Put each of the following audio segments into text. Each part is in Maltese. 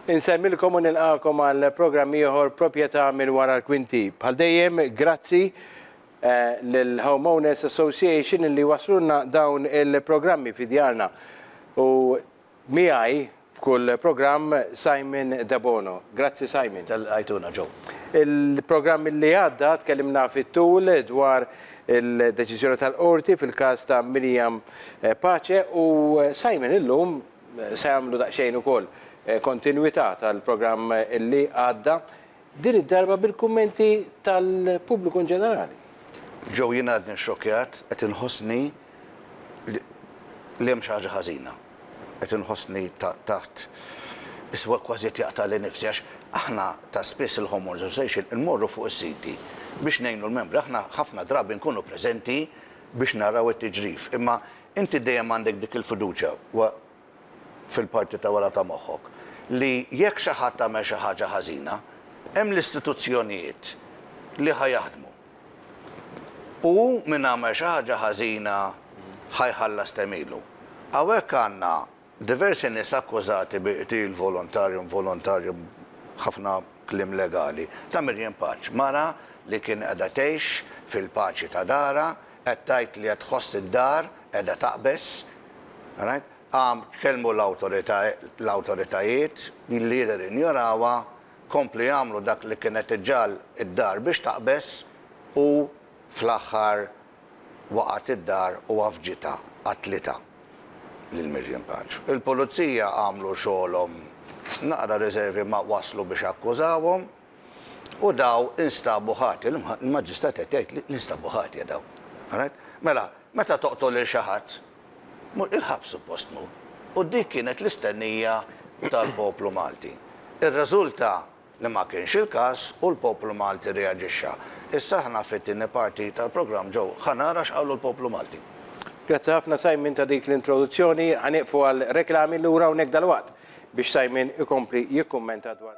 Insellmilkom u nilqagħkom għal programm ieħor Proprjetà minn Wara l-Kwinti. Bħal dejjem, grazzi lil Home Owners Association li jwasslulna dawn il-programmi fi djarna. U miegħi f'kull programm Simon Debono. Grazzi Simon. Ta' li lqajtuna Joe. Il-programm li għadda tkellimna fit-tul dwar il-deċiżjoni tal-Qorti fil-każ ta' Miriam Pace u Simon illum Se jagħmlu daqsxejn ukoll kontinwità tal-programm li għadda, din id-darba bil-kummenti tal-pubbliku inġenerali. Joe jien għadni xxokkjat, qed inħossni li hemm xi ħaġa ħażina. Qed inħossni taħt is-sewwa kważi qed jaqtagħli nifsi għax aħna ta' spiss il-Homeowners Association immorru fuq is-siti biex ngħinu l-membri. Aħna ħafna drabi nkunu preżenti biex naraw it-tiġrif imma Inti dejjem għandek dik il-fiduċja fil-parti ta' wara ta' moħħok li jekk xi ħadd għamel xi ħaġa ħażina, hemm l-istituzzjonijiet li ħa jaħdmu. U min għamel xi ħaġa ħażina ħa jħallas temilu. Hawnhekk għandna Diversi nies akkużati bi qtil volontarju u involontarju b'ħafna kliem legali ta' Miriam Paċ, mara li kien qiegħda tgħix fil-paċi ta' darha, qed tgħid li qed tħoss id-dar qiegħda taqbeż, right, qam tkellmu l-awtoritajiet li jidher injorawha, komplu jagħmlu dak li kien qed iġagħal id-dar biex taqbeż u fl-aħħar waqgħet id-dar u għafġitha, qatlitha lil Miriam Paċ. Il-Pulizija għamlu xogħolhom naqra riservi ma waslu biex akkużawhom u daw instabu ħati. Il-Maġistrat qed jgħid li nstabu ħatja daw. Alright? Mela, meta toqtol lil xi ħadd, il-ħabs suppost tmur. U dik kienet l-istennija tal-poplu Malti. Irriżulta li ma kienx il-każ u l-poplu Malti rreaġixxa. Issa aħna fit-tieni parti tal-programm ġew ħa nara x'qalu l-poplu Malti. Grazzi ħafna Simon ta' dik l-introduzzjoni. Ħa nieqfu għal reklami, lura hawnhekk dalwaqt biex Simon ikompli jikkummenta dwar.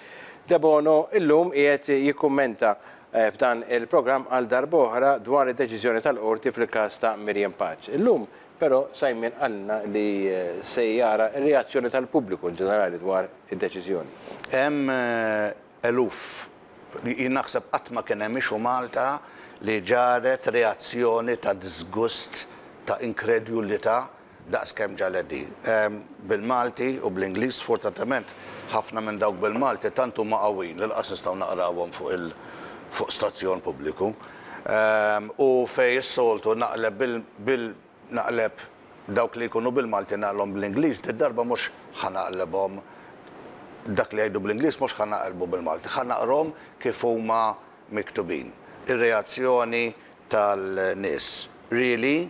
Debono llum qiegħed jikkummenta f'dan il-programm għal darb'oħra dwar id-deċiżjoni tal-Qorti fil-każ ta' Miriam Paċ. Illum, però, Simon qalilna li se jara r-reazzjoni tal-pubbliku in ġenerali dwar id-deċiżjoni. Hemm eluf, jien naħseb qatt ma kien hemm issue Malta li ġarret reazzjoni ta' diżgust, ta' inkredulità, Daqs kemm ġalet di. Bil-Malti u bl-Ingliż sfortatament ħafna minn dawk bil-Malti tant huma qawwijin li laqas nistgħu naqrawhom fuq il fuq stazzjon pubbliku. U fejn is-soltu naqleb bil bil naqleb dawk li jkunu bil-Malti naqlhom bl-Ingliż, did-darba mhux ħa naqlebhom dak li jgħidu bl-Ingliż mhux ħa naqlbu bil-Malti, ħa naqrhom kif huma miktubin. Ir-reazzjoni tal-nies. Really?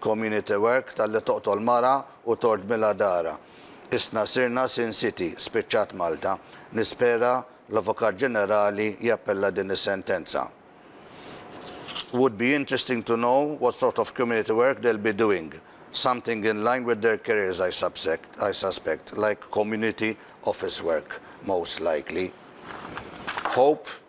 Community work talli toqtol mara u tordmilha darha. Isna sirna Sin City, spiċċat Malta. Nispera l-Avukat Ġenerali jappella din is-sentenza. Would be interesting to know what sort of community work they'll be doing. Something in line with their careers I subsect, I suspect, like community office work most likely. Hope.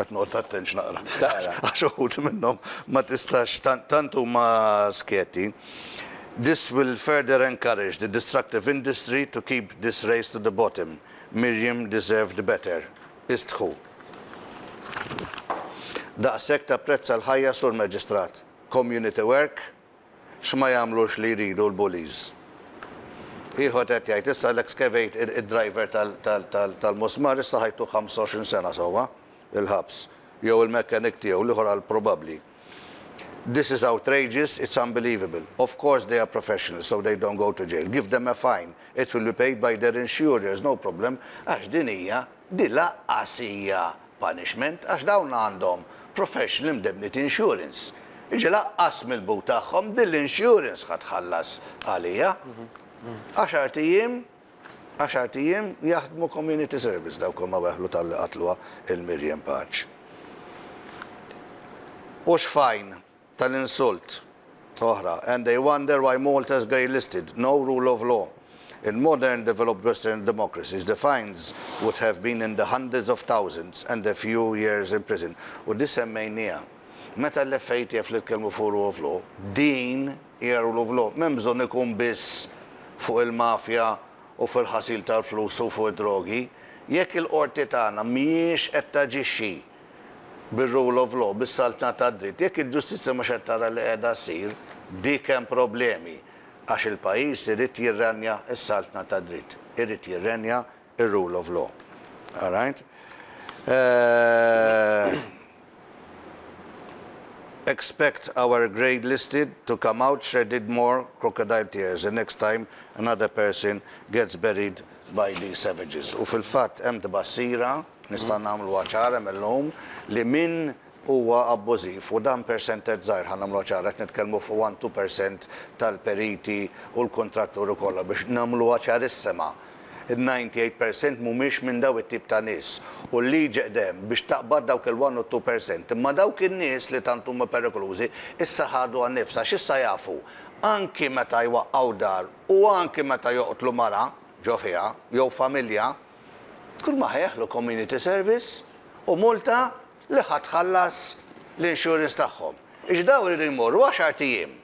Qed noqgħod attent x'naqra. X'taqra? Għax uħud minnhom ma tistax tant huma skjeti. This will further encourage the destructive industry to keep this race to the bottom. Miriam deserved better. Istħu. Daqshekk tapprezza l-ħajja Sur Maġistrat. Community work X'ma jagħmlux li jridu l-bullies. Ieħor qed jgħid, issa l-excavate id-driver tal-musmar issa ħa jtuh 25 sena sewwa il-ħabs, jew il-mechanic tiegħu, l-ieħor qal probabbli, This is outrageous, it's unbelievable. Of course they are professionals so they don't go to jail. Give them a fine, it will be paid by their insurers, no problem, għax din hija Din lanqas hija punishment għax dawn għandhom professional indemnity insurance. Jiġifieri lanqas mill-but tagħhom din l-insurance ħa tħallas għaliha. Għaxart ijiem, għaxart ijiem jaħdmu community service dawk huma weħlu talli qatluha il-Miriam Paċ. U x'fajn? tal-insult oħra, and they wonder why Malta's grey listed, no rule of law, in modern developed western democracies, the fines would have been in the hundreds of thousands and a few years in prison. U di semmejnieha. Meta l-FATF li tkellmu fuq rule of law, din hija rule of law. M'hemm bżonn ikun biss fuq il-mafja u fuq il-ħasil tal-flus u fuq id-drogi. Jekk il-Qorti tagħna mhijiex qed taġixxi, bir-rule of law, bis-saltna tad-dritt, jekk il-ġustizzja mhux qed tara li qiegħda ssir, dik hemm problemi, għax il-pajjiż irid jirrenja s-saltna tad-dritt, irid jirrenja r-rule of law. All right? Expect our grade listed to come out shredded more crocodile tears the next time another person gets buried by these savages. U fil-fatt hemm tbassira, Nistgħu nagħmluha ċara mil-lum li min huwa abbużiv, u dan percentage żgħir ħa nagħmluha ċara, qed nitkellmu fuq one, two percent tal-periti u l-kuntratturi kollha biex nagħmluha ċarissima. Il-ninety eight percent mhumiex minn dawn it-tip ta' nies u l-liġi qed hemm biex taqbad dawk il-one u two percent. Imma dawk in-nies li tant huma perikolużi issa ħadu għan-nifs għax issa jafu anki meta jwaqqgħu dar u anki meta joqtlu mara ġo fiha jew familja, Tkun ma ħajħlu community service u multa li ħa tħallas l-insurance tagħhom. Jiġifieri dawn iridu jmorru għaxart ijiem,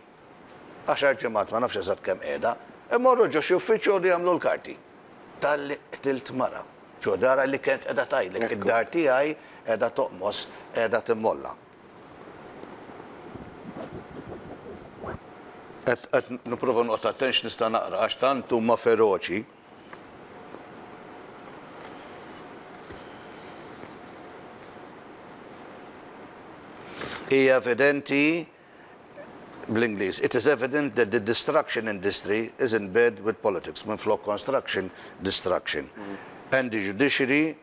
għaxar ġimgħat, ma nafx eżatt kemm qiegħda, imorru ġo xi uffiċċju joqogħdu jagħmlu l-karti. Talli qtilt mara. Ġo darha li kienet qiegħda tgħidlek id-dar tiegħi qiegħda toqmos, qiegħda timmolla. Qed nipprova noqgħod attent x'nista' naqra għax tant huma feroċi. Hija evidenti, bl-Ingliż, It is evident that the destruction industry is in bed with politics, minflok construction, destruction, and the judiciary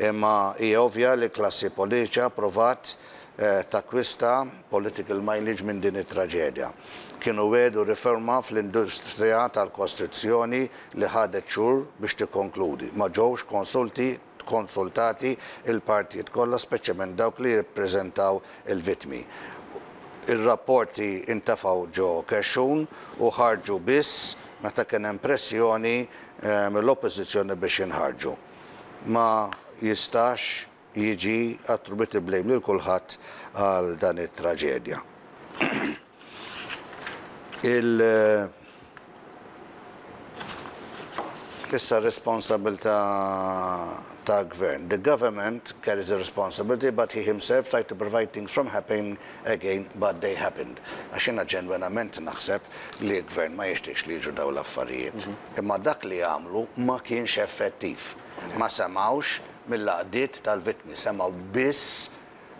Imma hija ovvja li klassi poliċa pprovat takkwista political mileage minn din it-traġedja. Kienu wegħdu riforma fl-industrija tal-kostruzzjoni li ħadet xhur biex tikkonkludi. Ma ġewx konsulti, konsultati l-partijiet kollha speċjament dawk li jirrappreżentaw il-vittmi. Ir-rapporti ntefgħu ġo kexxun u ħarġu biss meta kien hemm pressjoni mill-Oppożizzjoni biex jinħarġu. Ma jistax jiġi attributed blame lil kulħadd għal dan it-traġedja. Il Issa r-responsabilità ta' gvern. The government carries the responsibility but he himself tried to prevent things from happening again but they happened. Għax jiena ġenwenament naħseb li l-gvern ma jixtieqx li jiġu dawn l-affarijiet. Imma dak li għamlu ma kienx effettiv. Ma semgħux mill-għaqdiet tal-vittmi, semgħu biss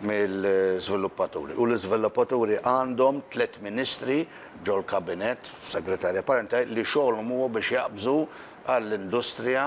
mill-żviluppaturi. U l-iżviluppaturi għandhom tliet ministri ġol-kabinett, f'segretarja parentali, li xogħolhom huwa biex jaqbżu għall-industrija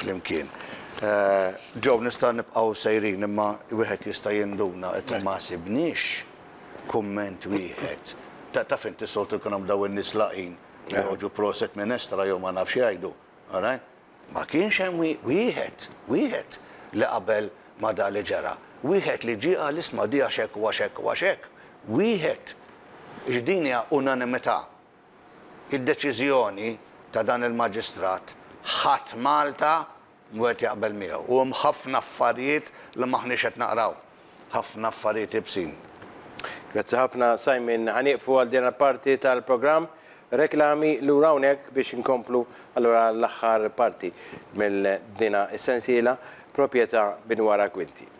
flimkien. Joe, nistgħu nibqgħu sejrin imma wieħed jista' jinduna qed u ma sibniex kumment wieħed. Taf inti soltu jkun hemm dawn in-nies laqgħin li joħorġu proset minn estra jew ma nafx jgħidu. Alright? Ma kienx hemm wieħed, wieħed li qabel ma' dak li ġara. Wieħed li ġie qal isma' di għax hekk u għax hekk u għax hekk. Wieħed. Jiġifieri din hija unanimità. Id-deċiżjoni ta' dan il-Maġistrat ħadd Malta wieħed jaqbel miegħu. U hemm ħafna affarijiet li m'aħniex qed naqraw. Ħafna affarijiet iebsin. Grazzi ħafna Simon. Ħa nieqfu għal din il-parti tal-programm. Reklami lura hawnhekk biex inkomplu allura l-aħħar parti minn dina s-sensiela, Proprjetà minn wara kwinti.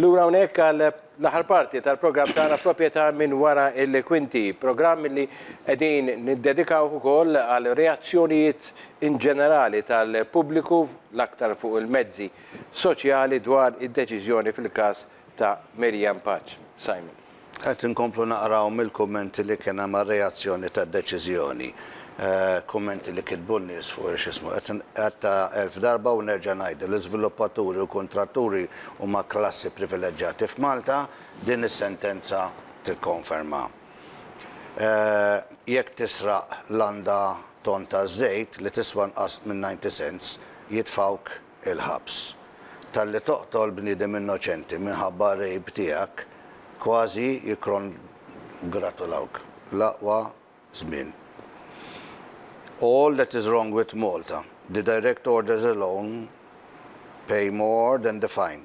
Lura hawnhekk għal l-aħħar parti tal-programm tagħna proprjetà minn wara il-kwinti, programm li qegħdin niddedikaw ukoll għal reazzjonijiet in ġenerali tal-pubbliku l-aktar fuq il-mezzi soċjali dwar id-deċiżjoni fil-każ ta' Maryanne Paċ. Simon. Qed inkomplu naqraw mill-kummenti li kien hemm għar-reazzjoni tad-deċiżjoni. Kummenti li kitbu n-nies fuq il-x'ismu. Qed inqatta' elf darba u nerġa' ngħidu li żviluppaturi u kuntratturi huma klassi privileġġati f'Malta, din is-sentenza tikkonferma. Jekk tisraq landa tonn taż-żejt li tiswa nqas minn ninety cents, jitfgħuk. il-ħabs talli toqtol bniedem innoċenti minħabba r-rejb tiegħek kważi jikkongratulawk bl-aqwa żmien All that is wrong with Malta, the direct orders alone pay more than the fine.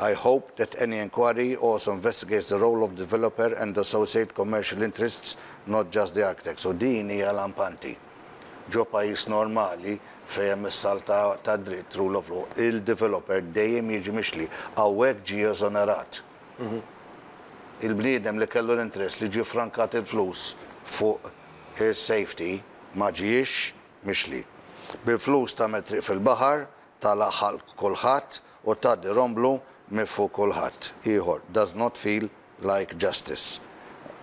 I hope that any enquiry also investigates the role of the developer and associate commercial interests not just the architects. U din hija lampanti. Ġo pajjiż normali fejn hemm is-salt ta' dritt, rule of law, il-developer dejjem jiġi mixli. Hawnhekk ġie eżonerat. Il-bniedem li kellu l-interess li ġie frankat il-flus fuq is-safety ma ġiex mixli. Bil-flus tagħmel triq fil-baħar, tagħlaq ħalq kulħadd u tgħaddi romblu minn fuq kulħadd. Ieħor, does not feel like justice.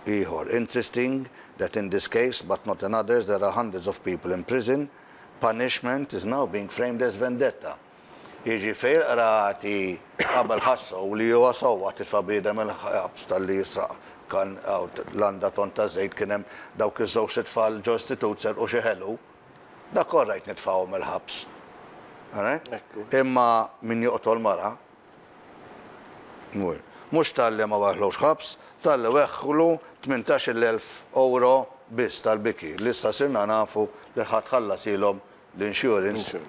Ieħor, interesting that in this case, but not in others, there are hundreds of people in prison, punishment is now being framed as vendetta. Jiġi fejn il-qrati qabel ħassew li huwa sewwa tifa' bniedem il-ħabs talli jisraq kan, landa, tonna ta' żejt, kien hemm dawk iż-żewġt itfal ġo istitut serqu xi ħelu, Dak all right nitfgħuhom il-ħabs. All right? Imma min joqtol mara, mur. Mhux talli ma weħħlux ħabs, talli weħħlu tmintax-il elf ewro biss tal-biki li issa sirna nafu li ħadd ħallasilhom l-insurance.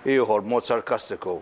Ieħor b'mod sarkastiku.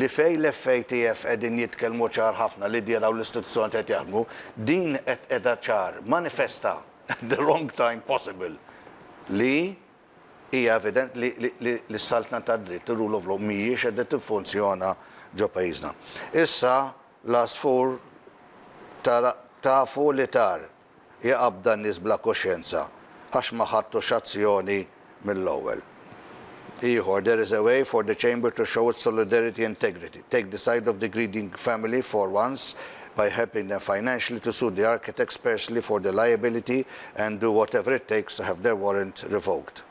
li fejn l-FATF qegħdin jitkellmu ċar ħafna li dierha u l-istituzzjonijiet qed jaħdmu, din qed qiegħda ċar, manifesta, at the wrong time possible, li hija evident li li s-saltna tad-dritt, ir-rule of law, mhijiex qiegħda tiffunzjona ġo pajjiżna. Issa l-għasfur tara tafu li tar. hi qabda n-nies bla kuxjenza għax ma ħadtux azzjoni mill-ewwel. Ieħor, There is a way for the Chamber to show its solidarity and integrity. Take the side of the greedy family for once by helping them financially to sue the architects personally for the liability and do whatever it takes to have their warrant revoked.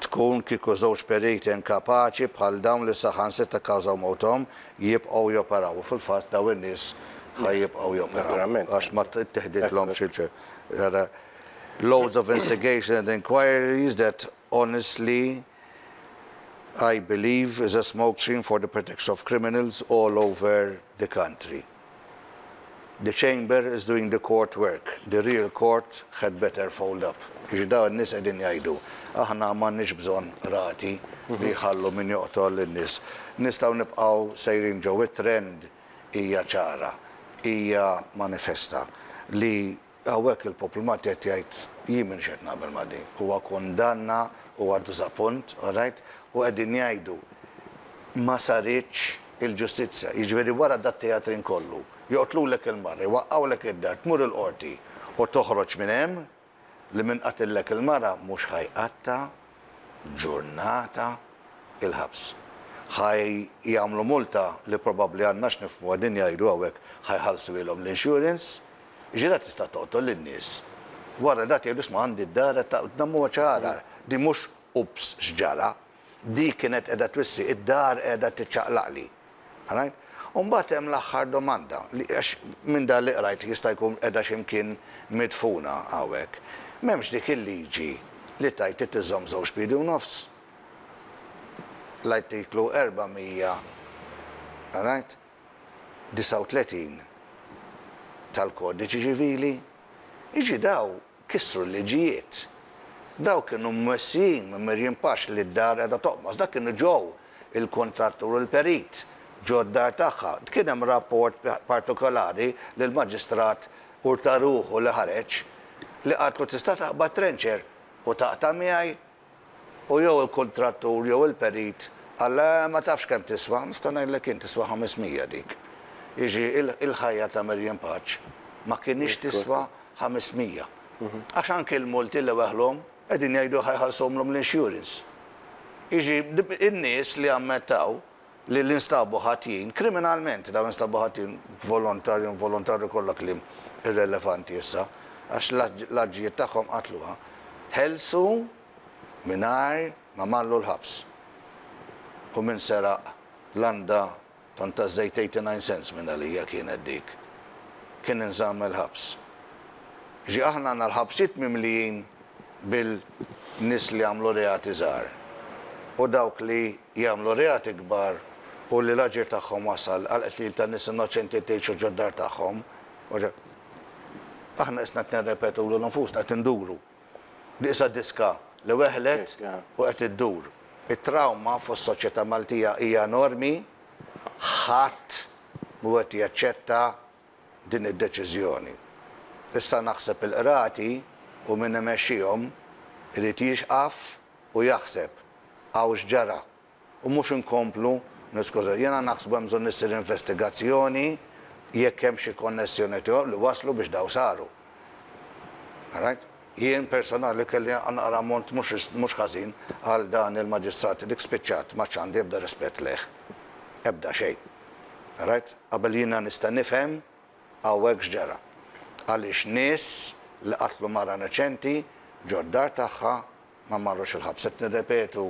tkun kieku żewġ periti inkapaċi bħal dawn li saħansitra kkawżaw mewthom jibqgħu joperaw. U fil-fatt dawn in-nies ħa jibqgħu joperaw għax ma ttiħdidlhomx il-ċertifika. Loads of instigations and inquiries that honestly I believe is a smokescreen for the protection of criminals all over the country. The chamber is doing the court work, the real court had better fold up. Jiġifieri dawn in-nies qegħdin jgħidu, aħna m'għandniex bżonn Qrati li jħallu min joqtol lin-nies. Nistgħu nibqgħu sejrin ġo it-trend hija ċara, hija manifesta li Hawnhekk il-poplu Malti qed jgħid, jien m'iniex qed naqbel ma' din. Huwa kundanna, huwa diżappunt, all right, u qegħdin jgħidu ma saritx il-ġustizzja. Jiġifieri wara dat-teatrin kollu, joqtlulek il-mara, jwaqqgħulek id-dar, tmur il-Qorti u toħroġ minn hemm li min qatillek il-mara mhux ħa jqatta'. ġurnata il-ħabs. Ħa jagħmlu multa li probabbli għandna x'nifhmu qegħdin jgħidu hawnhekk ħa jħallsuhielhom l-insurance. Ġirha tista' toqtol lin-nies. Wara dat jgħidu isma' għandi d-dar qed taqbad dammuha ċara. Din mhux ups x'ġara. Dik kienet qiegħda twissi id-dar qiegħda tiċċaqlaqli. Qrajt? U mbagħad hemm l-aħħar domanda, li għax minn dan li qrajt jista' jkun qiegħda xi mkien midfuna hawnhekk. M'hemmx dik il-liġi li tgħid trid iżżomm żewġ piedi u nofs? L-Artiklu 400, qrajt, 39 tal-Kodiċi Ċivili? Jiġri dawn Kissru l-liġijiet. Dawk kienu mmexxijin minn Miriam Pax li d-dar qiegħda toqmos. Dak kienu Joe, il-kuntrattur u l-perit, ġo d-dar tagħha. Kien hemm rapport partikolari li l-Maġistrat Urtaruhu li ħareġ, li qaltlu tista' taqbad trencher u taqta' miegħi U jew il-kuntrattur jew il-perit qal le ma tafx kemm tiswa, nista' ngħidlek jien tiswa 500 dik. Jiġi il-ħajja ta' Maryanne Paċ ma kinitx tiswa 500. Għax anki l-multi li weħlhom qegħdin jgħidu ħa jħallsuhomlhom l-insurance. Jiġi in-nies li ammettaw, li li nstabu ħatjin, kriminalment, dawn instabu ħatjin volontarju u involontarju kollha kliem irrelevanti issa, għax l-aġġijiet tagħhom qatluha, ħelsu mingħajr ma mallu l-ħabs. U min seraq landa tant taż-żejt 89 cents minn għalija kienet dik, kien inżamm il-ħabs. Ġi aħna għandna l-ħabsijiet mimlijin bil-nies li jagħmlu reati żgħar u dawk li jagħmlu reati kbar u li l-aġir tagħhom wasal għall-qtil ta' nies innoċenti tgħixu ġod-dar tagħhom u ġo Aħna qisna qed nirrepetu lil nfusna, qed induru. Qisha diska li weħlet u qed iddur. It-trawma fis-soċjetà Maltija hija enormi, ħadd mhu qed jaċċetta din id-deċiżjoni. Issa naħseb il-Qrati u min imexxihom irid jieqaf u jaħseb, hawn x'ġara? U mhux inkomplu niskużaw. Jiena naħsbu hemm bżonn issir investigazzjoni jekk hemm xi konnessjoni tiegħu li wasslu biex dawn saru. Alright? Jien personali kelli naqra ammont mhux ħażin għal dan il-Maġistrat, dik spiċċat, m'għadx għandi ebda rispett lejh. Ebda xejn. Rajt qabel jiena nista' nifhem hawnhekk x'ġara. Għaliex nies li qatlu mara innoċenti ġo d-dar tagħha ma marrux il-ħabs. Qed nirrepetu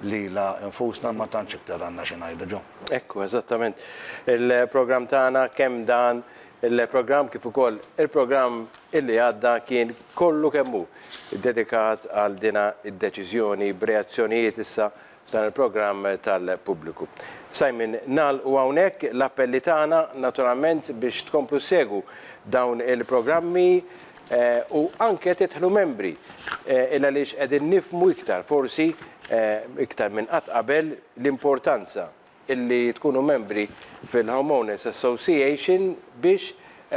lilha nfusna ma tantx iktar għandna xi ngħidu ġo. Hekk hu eżattament. Il-programm tagħna kemm dan il-programm kif ukoll il-programm illi għadda kien kollu kemm hu ddedikat għal dina d-deċiżjoni b'reazzjonijiet issa dan il-programm tal-pubbliku. Simon, nagħlqu hawnhekk l-appelli tagħna naturalment biex tkomplu ssegwu dawn il-programmi u anke tidħlu membri il għaliex qegħdin nifhmu iktar forsi iktar minn qatt qabel l-importanza illi tkunu membri fil-Homeowners Association biex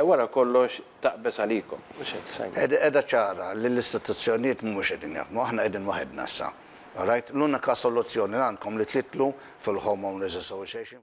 wara kollox taqbeż għalikom. Mhux hekk, Simon? Qiegħda ċara li l-istituzzjonijiet mhumiex qegħdin jaħdmu. Aħna qegħdin waħedna issa. All right? L-unika soluzzjoni li għandkom li tidħlu fil-Homeowners Association.